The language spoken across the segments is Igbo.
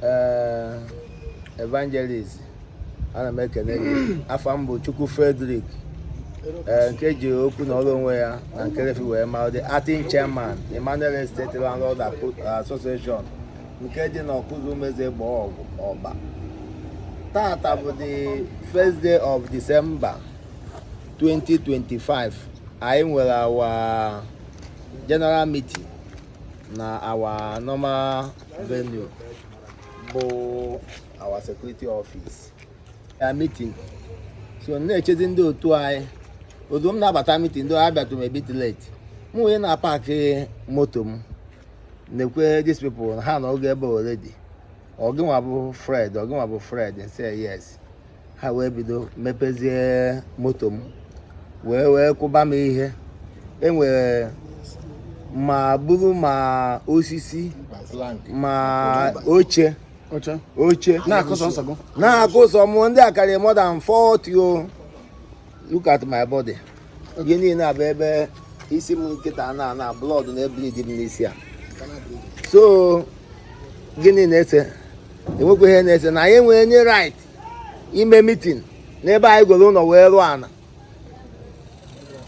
ee evangelist ana m ekene gị afa m bụ chukwu frederick ee nke ji okwu na ọrụ onwe ya na nkerefi wee mara the acting chairman emmanuel estate landlord Aco- association nke dị na ọkụzụ umezegbọgụ ọba tata bụ the first day of december 2025 anyị nwere our general meeting na our normal venue bụ our security office a meeting so na-echezi ndị otu anyị otu m na-abata meeting ndị abịatụ m a bit late m wee na-apaakị moto m nekwe these people ha nọgo ebe already ọ gịnwa bụ Fred ọ gịnwa bụ Fred I said yes ha wee bido mepezie moto m wee wee kụba m ihe enwere ma bụrụ ma osisi ma oche oche na-akụ sọ m ndị a karịrị more than 40 o look at my body ihe niile a bụ ebe isi m kịta na na blood na-ebleed m n'isi a so gịnị na-ese enwekwa ihe na-ese na anyị enwerọ any right ime meeting n'ebe anyị goro ụlọ wee rụọ ana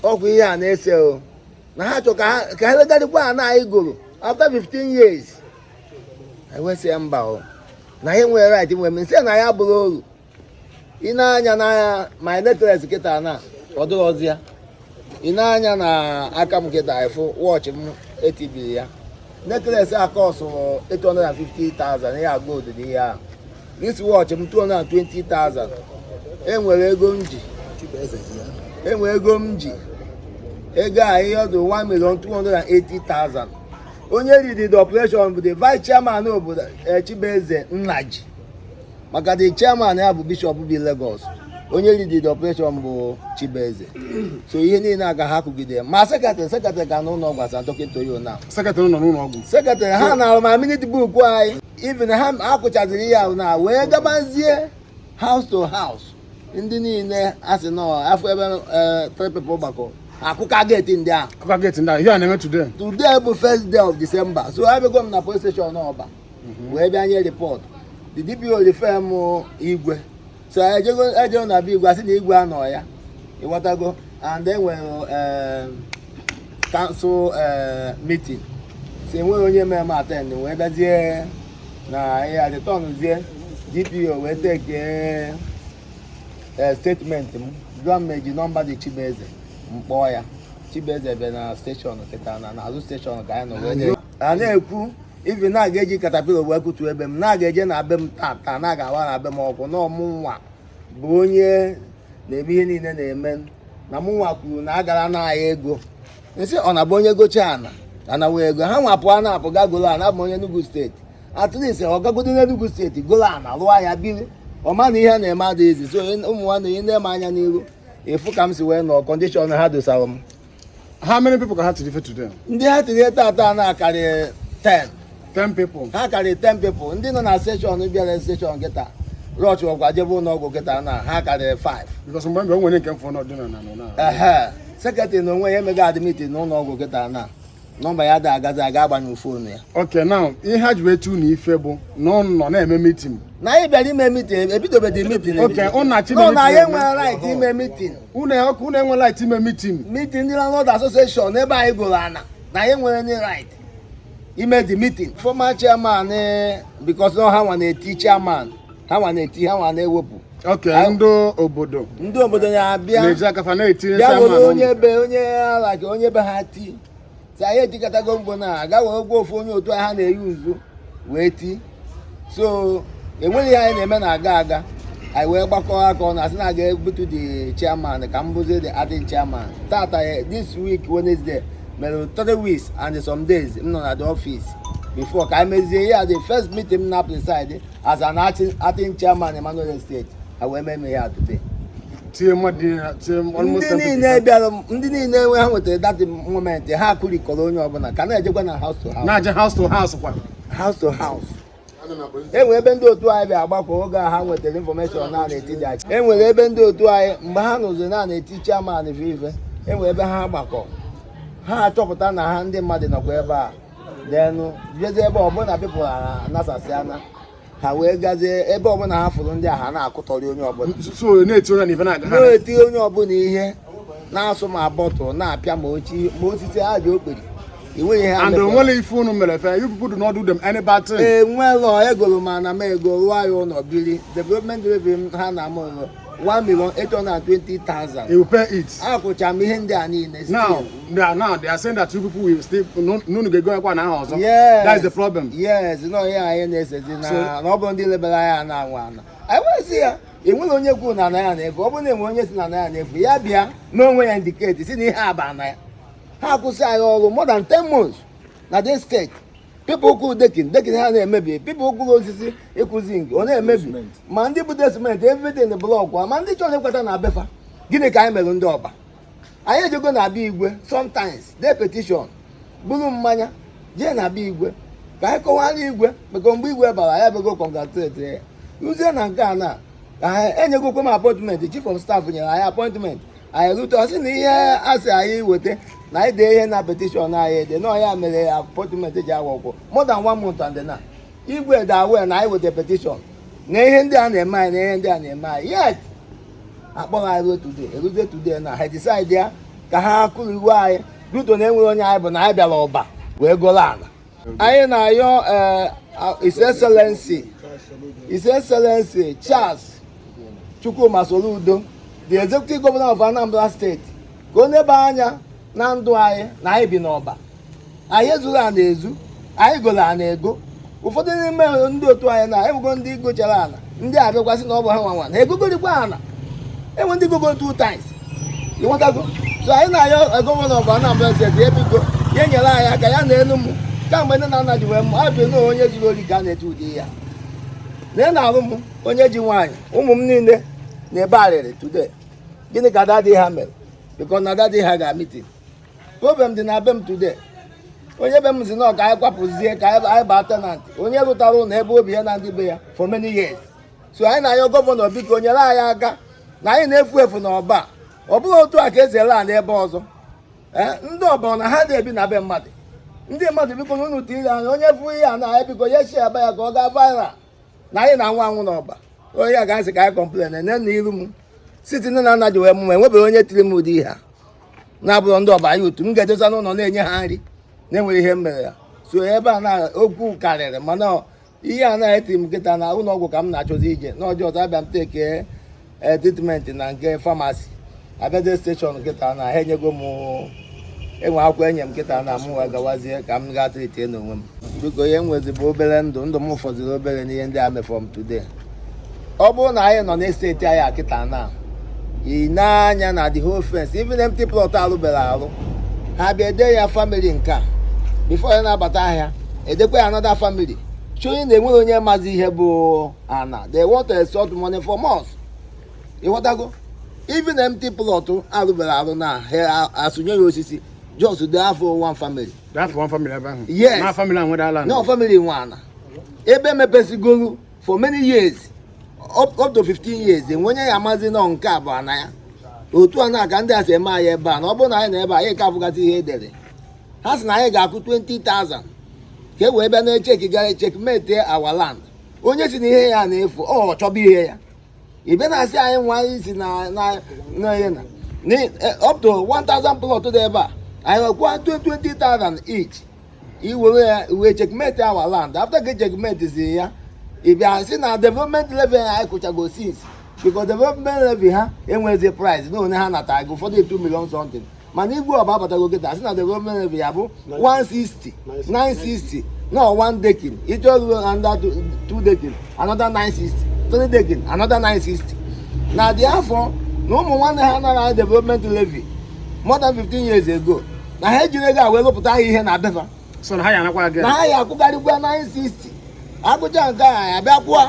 ọ kwa ihe a na-ese o na ha chọ ka ha ka ha legarịkwa ana anyị goro after 15 years anyị wee sị ya mba o na anyị nwere right nwere m nsị na ya bụrụ oru i nee anya na my necklace kịta na ọ dịrọzi ya i nee anya na aka m kịta ị fụ watch m etibiri ya necklace a kọsụrụ 850,000 ihe a gold dị ihe ahụ wrist watch m 220,000 enwere ego m ji enwere ego m ji ego a ihe ọ dụ 1,280,000 onye lead the operation bụ the vice chairman obodo eh, Chibueze Nnaji maka the chairman ya bụ Bishop bi Lagos onye lead the operation bụ Chibueze so ihe niile aga ha kụgide ma secretary secretary ka n'ụlọ ọgwụ as I'm talking to you now secretary nọ n'ụlọ ọgwụ secretary ha na ma minute book anyị even ha akụchaziri ya na wee gabazie house to house ndị niile a sị nọ afọ ebe eh, three people gbakọ akụka gate ndị ahụ akụka gate ndị ahụ ihe a na-eme today today bụ first day of December so abịago m na police station ọba mhm. wee bịa nye report the DPO refer m igwe so ejego ejego na be igwe a sị na igwe anọ ya ịghọtago and enwere eh, council eh, meeting so enweghị onye mere m attend wee bịazie na ya returnzie DPO wee take eh, statement m jụọ m eji nọmba dị Chibueze m kpọọ ya Chibueze bịa na station kịta na n'azụ station ka anyị nọ wee a na-ekwu ibi na aga eji katapila wee kutu ebe m na-aga eje na be m taa taa na a ga-awa na be m ọkụ na ọ mụ nwa bụ onye na-eme ihe niile na-eme na mụ nwa kwuru na agara na ahịa ego nsị ọ na-abụ onye gocha ana anawa ego ha nwapụ a na-apụ ga golo ana abụ onye Enugu steeti at least ọ gagodo n'Enugu steeti golo ana lụọ ya biri ọ ma na ihe na-eme adịghị easy so ụmụ nwanne i nee m anya n'iru ị fụ ka m si wee nọ condition ha dosara m How many people ka ha tiri ife today? ndị ha tiri tata na-akarị 10 10 people. ha karịrị 10 people ndị nọ na station bịara station kịta rush kwa jebe ụlọ ọgwụ kịta na ha karịrị 5 Because mgbe mgbe o nwere nke mfọ n'ọdịna na nọ na. ehe secretary n'onwe ya emego ya admit na ụlọ ọgwụ kịta na nọmba ya ada agazi aga a gbanyụọ fonu ya okay now ihe ha ji eti unu ife bụ na unu na-eme mitin na anyị bịara ime mitin ebidobedi mitin okay ha na-asị na na anyị enwerọ right ime mitin unu okay unu enwerọ right ime mitin mitin ndị landlord association ebe anyị goro ana na anyị enwerọ any right ime the meeting former chairman eh, because na ọ ha nwa na-eti chairman ha nwa na-eti ha nwa na-ewepụ okay ndị obodo ndị obodo na-abịa na-eji aka fa na-etinye bịa were onye be onye ala ka onye be ha ti so anyị etikatago mkpu na aga were gwa ofu onye otu ha na-eyi uzu wee ti so enweghị ihe anyị na-eme na-aga aga anyị wee gbakọọ aka ọnụ sị na a ga-ebutu the chairman ka m bụzie the acting chairman tata eh, this week Wednesday mere three weeks and some days m nọ na the office before ka anyị mezie ihe a the first meeting m na preside as an acting chairman Emmanuel Estate ha wee mee ya today ndị niile bịara ndị niile enwe ha nwetara that moment ha kụrikọrọ onye ọbụla ka na-ejekwa na house to house na-eje house to house kwa house to house enwere ebe ndị otu anyị bịa gbakọ oge a ha nwetara information na a na-eti dị achị enwere ebe ndị otu anyị mgbe ha nụziri na a na-eti chairman ife enwere ebe ha gbakọ ha achọpụta na ha ndị mmadụ nọkwa ebe a then jezie ebe ọbụla people anasasịa na ha wee gazie ebe ọbụla ha fụrụ ndị a ha na-akụtọrị onye ọbụla so na-eti onye na ife na-aga ha na-eti onye ọbụla ihe na-asụ ma bottle na-apịa ma ochi ma osisi ha ji okpiri enweghị ihe ha and mefọrọ. o nwerọ ife unu mere fa you people do not do them any bad thing enwelọ egoro m ana m ego rụọ ya ụlọ biri development levy ha na m ụlọ 1 million 820,000. You pay it. Akwụcha m ihe ndị a niile. Now, they are now they are saying that you people will still na unu ga-egokwa ana ahụ ọzọ. Yes. That is the problem. Yes, na ọ ihe anyị na-esezi na na ọ bụrọ ndị lebere anyị ana nwe ana. Anyị wee sị ya enwerọ onye kwuru na ana ya na-efu ọ bụrụ na e nwee onye sị na ana ya na-efu ya bịa n'onwe ya indicate sị na ihe a bụ ana ya. Ha akwụsị anyị ọrụ more than 10 months na this estate. people kụrụ decking decking ha na-emebi people kụrụ osisi ịkụzi nke ọ na-emebi ma ndị bute cement everything block ma ndị chọrọ ịkwata na be fa gịnị ka anyị mere ndị ọba anyị ejego na be igwe sometimes dee petition buru mmanya jee na be igwe ka anyị kọwara igwe maka mgbe igwe bara ya bego congratulate ya ruzie na nke a na ka anyị enyegokwe m appointment chief of staff nyere anyị appointment anyị rute ọ sị na ihe a sị anyị weta na anyị dee ihe na petition anyị ede na ọ ya mere appointment ji awa ọkwụ more than one month and na igwe dị aware na anyị weta petition na ihe ndị a na-eme anyị na ihe ndị a na-eme anyị yet akpọrọ anyị ruo today eruzie today na ha decide ya ka ha kụrụ iwu anyị ruto na enwerọ onye anyị bụ na anyị bịara ọba wee goro ana anyị na-ayọ eh, His Excellency His Excellency Charles Chukwuma Soludo the executive governor of Anambra State ka ọ nebe anya na ndụ anyị na anyị bi n'ọba anyị ezurọ ana ezu anyị goro ana ego ụfọdụ n'ime ndị otu anyị na enwego ndị gochara ana ndị abịakwa sị na ọ bụ ha nwa nwe ha egogharịkwa ana enwe ndị gogo two times ị nwetago so anyị na-ayọ governor of Anambra State ya biko ya nyere anyị aka ya na enu m kamgbe nne na nna ji wee mụa m ọ bụ na onye zuru ori ka a na-eti ụdị ihe a na ị na-alụ m onye ji nwaanyị ụmụ m niile na-ebe arịrị today gịnị ka daddy ha mere because na daddy ha ga meeting problem dị na be m today onye be m sị na ka anyị kwapụzie ka anyị baa tenant onye rụtara ụlọ ebe obi ya na ndị be ya for many years so anyị na-ayọ governor biko nyere anyị aka na anyị na-efu efu na ọba ọ bụrụ otu a ka esi ele ala ebe ọzọ eh, ndị ọba ọ na ha na-ebi na be mmadụ ndị mmadụ biko na unu tinye anya onye fụ ihe a na ya biko ya share-ba ya ka ọ gaa viral na anyị na-anwụ anwụ n'ọba onye anyị ga-asị ka anyị complain nene iru m site nne na nna ji wee mụa m enwebeghị onye tiri m ụdị ihe a na ọ bụrụ ndị ọba ya otu m ga-edosa n'ụlọ na-enye ha nri na enwerọ ihe m mere ya so ebe a na okwu karịrị mana ihe a na-eti m kịta na ụlọ ọgwụ ka m na-achọzi ije n'ọjọọ ọzọ abịa m take e, treatment na nke pharmacy abịa jee station kịta na ha enyego m enwe akwụkwọ enye m kịta na m wee gawazie ka m gaa treat onwe m biko ihe m nwezi bụ obere ndụ ndụ m fọziri obere n'ihe ndị a mefọrọ m today ọ bụrụ na anyị nọ n'estate anyị a kịta na ị nee anya na the whole fence even empty plot alụberọ alụ ha bịa ede ya family nke a before ya na-abata ha edekwa ya another family showing na enwerọ onye mazi ihe bụ ana they want to extort money from us ịghọtago even empty plot arụbere arụ na ha asụnye ya osisi just because of one family That's one family ebe ahụ. Yes. Na family ahụ nwe ala. no family nwe ana ebe emepesigoro for many years up, up to 15 years enwe onye ya amazi na nke a bụ ana ya otu a na ka ndị a si eme anyị ebe a na ọ bụrụ na anyị na ebe a, anyị ka afụgasị ihe edere ha sị na anyị ga-akwụ 20,000 ka e wee bịa na-echeki gara checkmate our land onye si na ihe ya na-efu ọ chọba ihe ya ị bịa na-asị anyị nwa anyị si na na na ihe na na eh, up to 1000 plot dị ebe a anyị nyekwa 20000 each i were ya wee checkmate our land after gị checkmate zi ya ị bịa sị na development levy anyị akwụchago since because development levy ha enwezi price na onye ha natago ụfọdụ 2 million something mana igwe Ọba abatago kịta asị na development levy ya bụ 160 960 na one decking ị chọọ ịrụ another two- two decking another 960 three decking another 960 na-echefọ na ụmụ nwanne ha nara anyị development levy more than 15 years ago na ha ejiri ego a wee lụpụta ha ihe na be fa so na ha ya anakwa gị na ha ya akwụgharịkwa 960 akwụcha nke a ya bịa kwụọ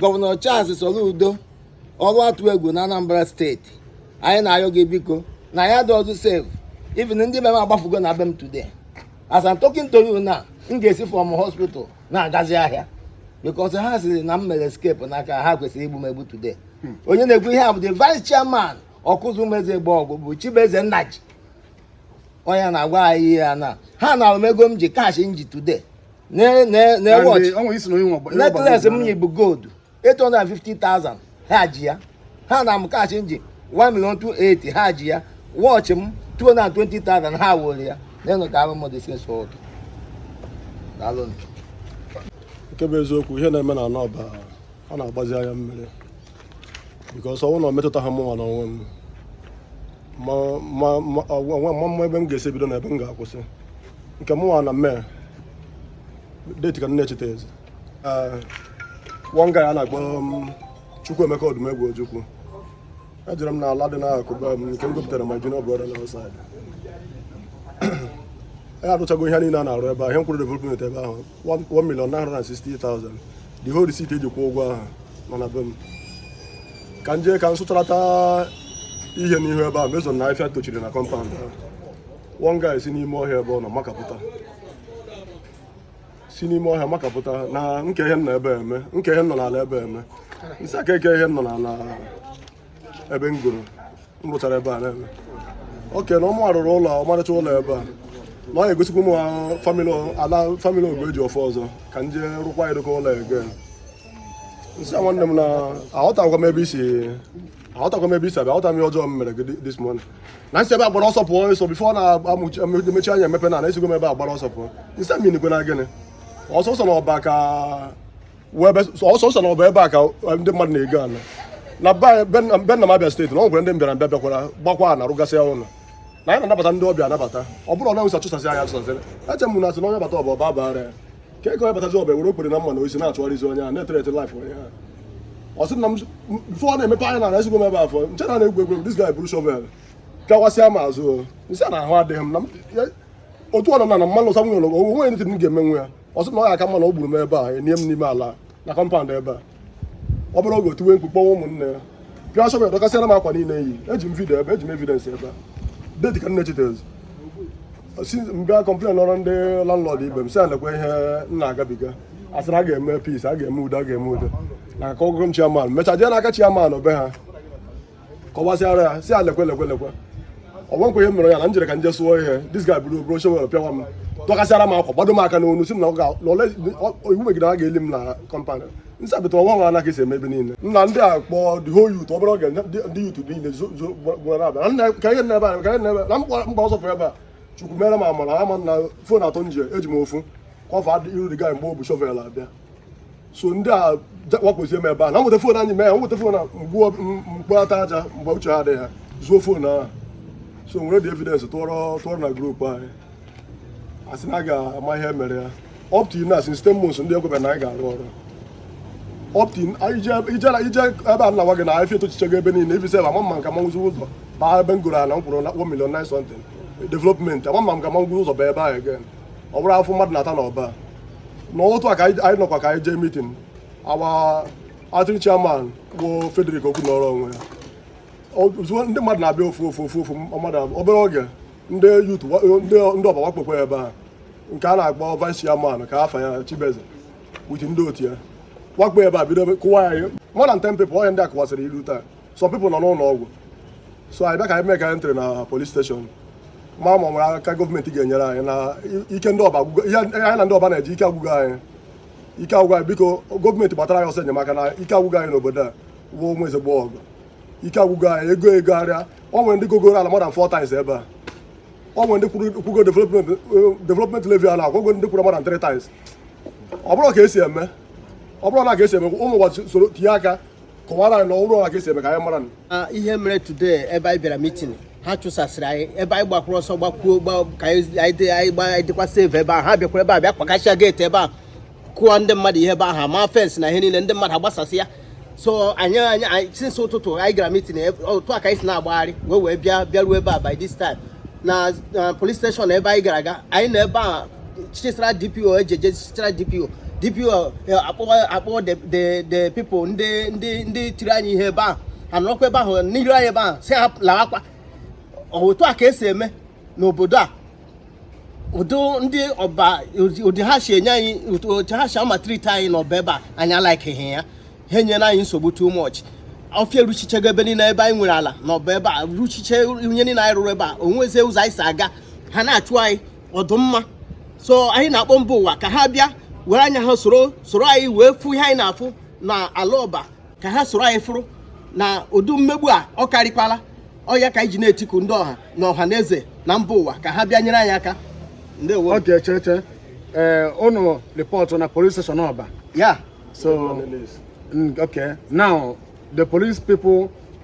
gọvanọ Charles Soludo Ọlụatụegwu na Anambra steeti anyị na-ayọ gị biko na anyị adịrọzị safe even ndị be m agbafugo na be m today as I'm talking to you now m ga-esi from hospital na-agazi ahịa because ha sịrị na m mere escape n'aka ha kwesịrị igbu m egbu today hmm. onye na-ekwu ihe a bụ the vice chairman Okuzu meze egbe ọgụ bụ Chibueze Nnaji onye na-agwa anyị ihe ya na ha nara m ego m ji cash m ji today necklace m yi bụ gold 850,000 ha ji ya ha na m cash m ji 1 million 280 ha ji ya watch m 220,000 ha were ya n'enu ka abụ mmadụ isi so ụtọ daalụ nke bụ eziokwu ihe na-eme na ana Ọba ọ na-agbazi anya mmiri because ọ bụrụ na ọ metụta ha mụnwa n'onwe m amarọ m ebe m ga-esi ebido na ebe m ga-akwụsị nke mụnwa na mee date ka m na-echetazi one guy a na-akpọ um, Chukwuemeka Odumegwu Ojukwu ejere m n'ala dị n'akụkụ be m nke m gopụtara my junior brother nọ outside anyị arụchago ihe niile a na-arụ ebe a ihe m kwụrụ development ebe ahụ 1 million 960,000 the whole receipt eji kwụọ ụgwọ ahụ nọ na be m ka m jee ka m sụcharata ihe n'ihu ebe ahụ reason na afịfịa tochiri na compound ahụ one guy si n'ime ọhịa ebe ọ nọ makapụta si n'ime ọhịa makapụta na kee ihe m nọ ebe a eme kee ihe m nọ n'ala ebe a eme m sị ya kee ihe m nọ n'ala ebe m goro m rụchara ebe a na-eme oke na ọ mụ rụrụ ụlọ ọmarịcha ụlọ ebe a na ọ na-egosikwa ụmụ famili ala famili ogo eji ọfọ ọzọ ka m jee rụkwa ya dịka ụlọ ege m sị ya nwanne m na aghọtakwa m ebe isi aghọtakwa m ebe isi abịa aghọta m ihe ọjọọ m mere gị thi- this morning na m si ebe a gbara ọsọ pụọ ọ sị bifo ọ na-emechi anya emepe na na esigo m ebe a gbara ọsọ pụọ m sị ya minikwe na gịnị ọ sị ọ sị na ọba ka ọ sị ọ sị na ọ bụ ebe a ka eh, ndị mmadụ na-ego ala na be n'Anambra steeti na ọ nwere ndị mbịara mbịa bịakwara gbakwa na arụgasịa ụlọ na anyị na-anabata ndị ọbịa anabata ọ bụrụ ala Awụsa chụsasị anyị achụsasị eche m na asị na onye bata ọba ọba bara ya ka ego onye batazi ọba were okpiri na mma na osisi na-achụgharịzi onye a na-ethreaten laif onye a ọ sị na m bifo ọ na-emepe anya na esigo m ebe a pụọ m chee na ọ na-egwu egwu dis guy buru shovel kụwasịa m azụ m sị ya na ahụ adịghị m na otu ọ nọ na na mmanụ ụsa nwunye ụlọ onwe onye ntị m ga-emenwu ya ọ sị na ọ ga-aka mma na ọ gburu m ebe a e nie m n'ime ala na kọmpand ebe a obere oge o tiwe mkpu kpọkuwe ụmụnne ya pịa shovel dọkasịara m akwa niile m yi eji m vidio ebe eji m evidensị ebe a deti ka nne chitezi si m bịa kọmplenụọrọ ndị landlord ibe m sị lekwa ihe m na-agabiga a sịrị a ga-eme peace a ga-eme udo a ga-eme udo na aka ọgụgụ m chiaman mecha jee n'aka chiaman be ha kọwasịara ya sị ya lekwe lekwe lekwe o nwekwa ihe m mere ya na m jere ka m je sụọ ihe dis guy buru buru shovel pịawa m dọkasịara m akwa gbado m aka n'onu sị m na iwu megide ha ga-eli m na kọmpand nsabịta ọnwa nwa anaghị esi eme ebe niile nna ndị a kpọọ the whole youth obere oge ndị youth niile gbara bịa ka ihe na-ebe anyị ka ihe na-ebe na m gbaa ọsọ pụrụ ebe a chukwu mere m amara ama na fon atọ m ji eji m ofu kọva iru dis guy mgbe o bu shovel abịa so ndị a wakpozie m ebe a na m weta fon anyị mee nweta fon mgbuo m kpọta aja mgbe uche ha adịghị ha zoo fon ahụ so m were the evidence tụọrọ tụọrọ na grupu anyị asị na a ga-ama ihe mere ya up to now since ten months ndị a ekwebe na anyị ga-arụ ọrụ up to ị jee ebe a m na-agwa gị na ọfịa etochichago ebe niile ivin sef ama m ma m ka manwuzi ụzọ baa ebe m goro ala m kwụrụ na 1 million 9 something development ama m ma m ka manwuzi ụzọ baa ebe ahụ again ọ bụrụ afụfụ mmadụ na-ata n'ọba na otu a ka anyị nọkwa ka anyị jee mitin our acting chairman bụ Frederick Okwu nọrọ onwe ya ndị mmadụ na-abịa ofu ofu ofu ofu mmadụ obere oge ndị yut ndị ọba wakpokwa ebe a nke a na-akpọ vice chairman ka afa ya Chibeze wit ndị otu ya wakpo ebe a bido kụwa anyị more than ten people ihe ndị a kụwasịrị ilu taa some people nọ n'ụlọ ọgwụ so anyị bịa ka anyị mee ka anyị entry na polis steshọn ma ma o nwere aka gọọmenti ga-enyere anyị na ike ndị ọba agwụgo ihe anyị na ndị ọba na-eji ike agwụgo anyị ike agwụgo anyị biko gọọmenti gbatara anyị ọsọ enyemaka na ike agwụgo anyị n'obodo a wụ ọba eziokwu ike agwụgo anyị e goo e goharịa ọ nwere ndị gogoro ala more than four times ebe a ọ nwere ndị kwụgo development levy ala akwụgo ndị kwụrụ more than three times ọ bụrụ ka esi eme ọ bụrụ na ka esi eme ụmụ ụwa soro tinye aka kọwara anyị na ọ bụrụ otu a ka esi eme ka anyị mara nụ. Ah, ihe mere today ebe anyị bịara mitin ha chụsasịrị anyị ebe anyị gbakwuru ọsọ gbakwuo gba ka anyị anyị dị- anyị gba- anyị dịkwa safe ebe ahụ ha bịakwara ebe a bịa kpakasịa geeti ebe a kụọ ndị mmadụ ihe ebe ahụ ma fensị na ihe niile ndị mmadụ agbasasịa so anyị anyị anyị- since ụtụtụ anyị gara mitin otu a ka anyị si na-agbagharị wee wee bịa bịaruo ebe a by this time na na police station ebe anyị gara aga anyị nọ ebe a chịchara DPO ejeje chịchara DPO DPO akpọwa the people ndị ndị ndị tiri anyị ihe ebe ahụ ha nọrọkwa ebe ahụ n'iru anyị ebe ahụ sị ha lawakwa otu a ka esi eme n'obodo a ụdị ndị ọba ụdị ha si enye anyị otu ha si amatriti anyị n'ọba ebe a anyị alaikịghị ya ha enyela anyị nsogbu too much ọfịa eruchichego ebe niile ebe anyị nwere ala na ọba ebe a ruchiche ihe niile anyị rụrụ ebe a o nwezi ụzọ anyị si aga ha na-achụ anyị ọ dụ mma so anyị na-akpọ mba ụwa ka ha bịa were anya ha soro soro anyị wee fụ ihe anyị na-afụ na ala ọba ka ha soro anyị fụrụ na ụdị mmegbu a ọ karịkwala ọ ya ka anyị ji na-etiku ndị ọha na ọha na eze na mba ụwa ka ha bịa nyere anyị aka ndewo okay cheche ee ụnụ report na police station Ọba yeah so mm, okay now the police people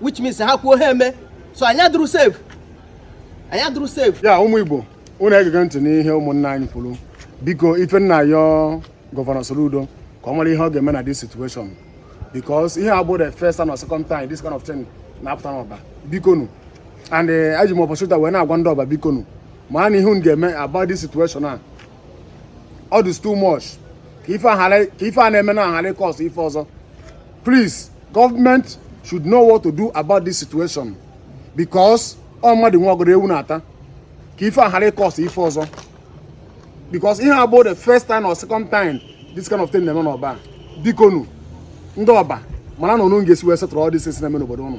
which means ha kwuo ha eme so anyị adụrọ safe anyị adụrọ safe yeah ụmụ Igbo ụnụ egege ntị n'ihe ụmụnna anyị kwuru biko ife m na-ayọ gọvanọ Soludo ka ọ mara ihe ọ ga-eme na this situation because ihe a abụ the first and second time this kind of thing na-apụta n'ọba bikonu and eh, eji m opportunity a wee na-agwa ndị ọba bikonu ma nụ ihe unu ga-eme about this situation a all this too much ka ife a na-eme na aghara cause ife ọzọ please government should know what to do about this situation because ọ mmadụ nwe ọgọdọ ewu na-ata ka ife aghara cause ife ọzọ because ihe a abụrọ the first time or second time this kind of thing na-eme n'ọba bikonu ndị ọba mara na unu ga-esi wee setụrụ all these things na-eme n'obodo ụnụ